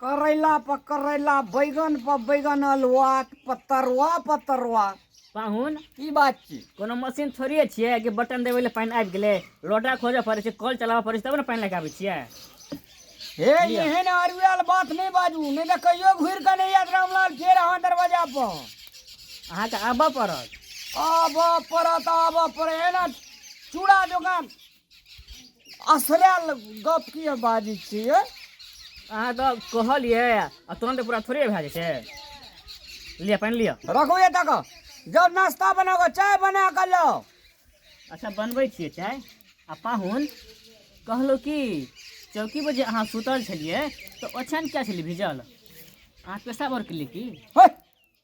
करैला पर करैला बैगन पर बैगन अलवा पतरवा पतरवा पाहुन की बात छी कोनो मशीन थोड़िए छियै कि बटन देबै लए पानि आबि गेलै लोटा खोजऽ पड़ै छै कल चलाबऽ पड़ै छै तब ने पानि लए कऽ आबै छियै हे एहन अरुआल बात नहि बाजू नहि तऽ कहियो घुरि कऽ नहि आयत रामलाल फेर अहाँ दरवाजा पर अहाँके आबऽ पड़त आबऽ पड़त आबऽ पड़त एना चूड़ा दोकान असरायल गप की बाजै छियै अहाँ तऽ कहलियै आ तुरंत पूरा थोड़े भए जाइ छै लिअ पानि लिअ रखू ये तक जब नाश्ता बना कऽ चाय बना कऽ लाओ अच्छा बनबै छियै चाय आ पाहुन कहलहुँ कि चौकी पर जे अहाँ सुतल छलियै तऽ ओछान किया छलियै भिजल अहाँ पेशा भर केलियै की होय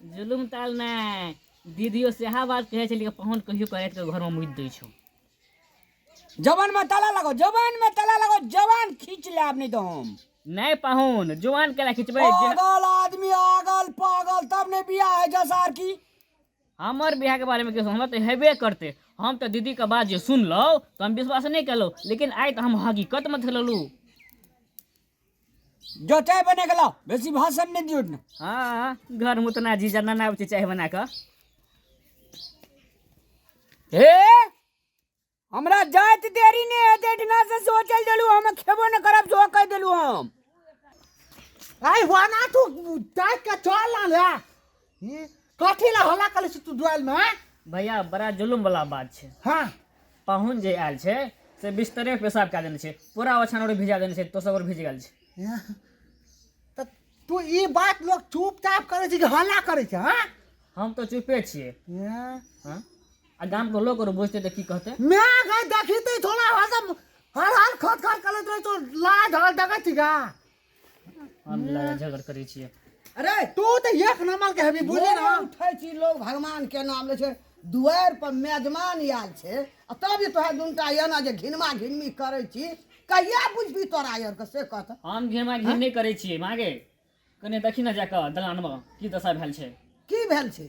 जुलुम ताल नहि दीदियो सेहा बात कहै छै लेकिन पहुन कहियो करैत के घर में मुइत दै छौ जवान में ताला लगो जवान में ताला लगो जवान खींच ले आप नहीं तो हम नहीं पहुन जवान केला खींचबे पागल आदमी आगल पागल तब ने बियाह है जसार की हमर बियाह के बारे में किछु हमरा तो हेबे करते हम तो दीदी के बात जे सुनलहुँ तो हम विश्वास नहीं केलहुँ लेकिन आइ तो हम हकीकत में थललहुँ जो चाय बना के लाओ बेसी भाषण नहीं दियो ना हाँ हाँ घर में तो ना जीजा ना ना चाय बना के हे हमरा जात देरी ने है ते इतना से सोचल देलु हम खेबो न करब जो कह देलु हम आई वाना तू चाय के चल ना ई कथी ला हल्ला करै छी तू दुआल में हाँ? भैया बड़ा जुलुम वाला बात छै हाँ पाहुन जे आयल छै से बिस्तरे पे पेशाब कए देने छै पूरा ओछान और भिजा देने छै तो सब और भिज गेल छै यहाँ। तऽ तू ई बात लोग चुपचाप करै छी कि हल्ला करै छै हाँ हम तो चुपे छियै यहाँ। हाँ? आ गाम के लोग और बुझते तो की कहते मैं गई देखी थी थोड़ा हर हर खट खट करत रहे तो लाज हर देखै छी का हम लड़ाइ झगड़ करै छियै अरे तू तऽ एक नंबर के हेबी बुझे ना उठै छी लोग भगवान के नाम ले छै दुआर पर मेजमान आयल छै आ तब जे तोहर दुनटा एना जे घिनमा घिनमी करै छी कहिया बुझबी तोरा आर के से कहत हम घिमा घिम नहि करै छियै मागे कने देखी ने जाकऽ दलानमे की दशा भेल छै की भेल छै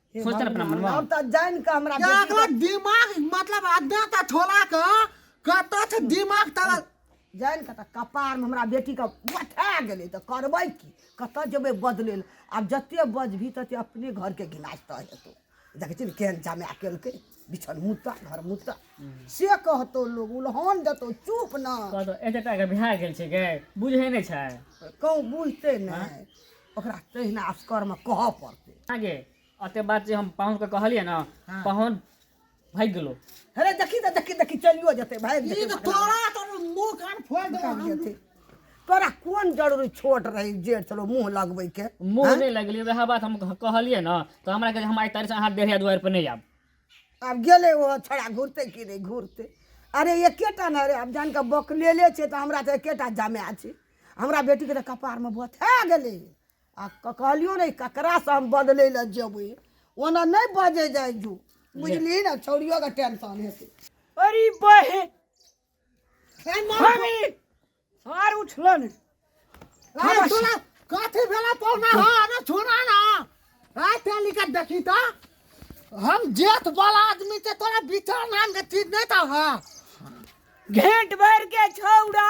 हे सोचतन अपना भगवान, मनमे। हम तऽ जानि कऽ हमरा बेटी एकरा दिमाग मतलब अड्डा तऽ ठोला के कतऽ छै दिमाग तऽ जानि कऽ तऽ कपारमे हमरा बेटीके उठा गेलै तऽ करबै की कतऽ जेबै बदलै लए आब जते बजबही तते अपने घरके गिलास तऽ हेतौ देखै छी ने केहन जमाए केलकै बिछन मुत्ता घर मुत्ता से कहतौ लोग उलहन देतौ चुप न कहतो एते टा के बिहार गेल छै के बुझे नहि छै कहूँ बुझते नहि ओकरा तहिना असकरमे कहऽ पड़तै आगे अते बात जे हम पाहुन के कहलियै ना हाँ। पाहुन भागि गेलो अरे देखी तऽ देखी देखी चलियो जेतै भागि ई जेतै तऽ तोरा तोर मुंह कान फोड़ दे भागि जेतै। तोरा कोन जरूरी छोट रही जेठ छलो मुँह लगबैके मुंह नहीं लगली वएह बात हम कह- कहलियै ना तो हमरा के हम आई तारीख से अहाँ डेढ़िया दुआर पर नहीं आब आब गेलै ओ छोड़ा घुरतै कि नहि घुरतै अरे एकेटा ने अरे आब जान कऽ बकलेले छै तऽ हमरा तऽ एकेटा जमाए छै हमरा बेटीके तऽ कपारमे बथा गेलै आ कहलियो ने ककरासँ हम बदलै लए जेबै ओना नहि बजे जाइ जो बुझली ने छौड़ियो के टेंशन हेतै अरे बहे हमी सार उठलन अरे सुना कथी भेला पौना हो अरे सुना ना आ तेली का देखी तो हम जेठ वाला आदमी के तोरा बिचार नाम के चीज नहीं था हां घेंट भर के छौड़ा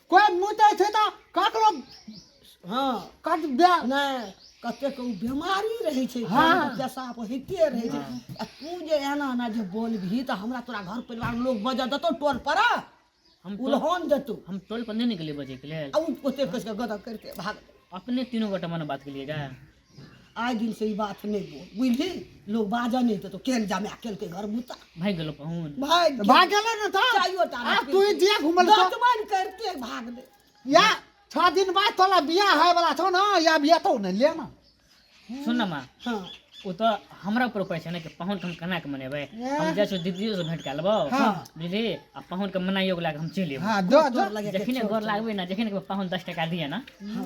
कोइ मुतै छै तऽ ककरो हँ कट दे नहि कतेक ओ बेमारी रहै छै हँ। घरमे पेशाब होइते रहै छै आ तू जे एना एना जे बोलबही तऽ हमरा तोरा घर परिवार लोक बजा देतौ टोल पर हम टोल उलहन देतौ हम टोल पर नहि निकले बजैके लेल आ ओ ओते कस के गदर करते भाग अपने तीनू गोटा मने बात केलिए गा आइ दिन से ई बात नहि बोल बुझली लोग बाजऽ नहि देतो केन जामे केलकै घर बुता भागि गेलो पाहुन भाग तऽ भाग गेलै ने तऽ चाइयो टा आब तू ई जे घुमल छौ दतमन करते भाग दे या छह दिन बाद तोरा बियाह होय वाला छौ ने या बियाह तो ने ले ना सुन न माँ हाँ ओ तऽ हमरा ऊपर ऊपर छै ने कि पाहुन के हम केना के मनेबै हम जाइ छियौ दीदियो से भेंट कए लेबो हाँ। बुझली आ पाहुन के मनाइयो लए के हम चलि एबो हाँ जो जो तोर लगे के जखने गोर लागबै ने जखने के पाहुन दस टका दिए ने हाँ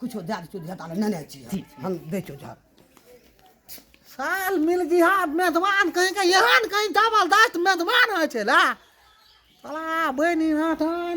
किछो दए देतो झटा लए नेने छी हम दै छौ झट साल मिल गिहा मेहमान कहीं के एहन कहीं डबल दस्त मेहमान होइ छै ला साला बहिनी नाथन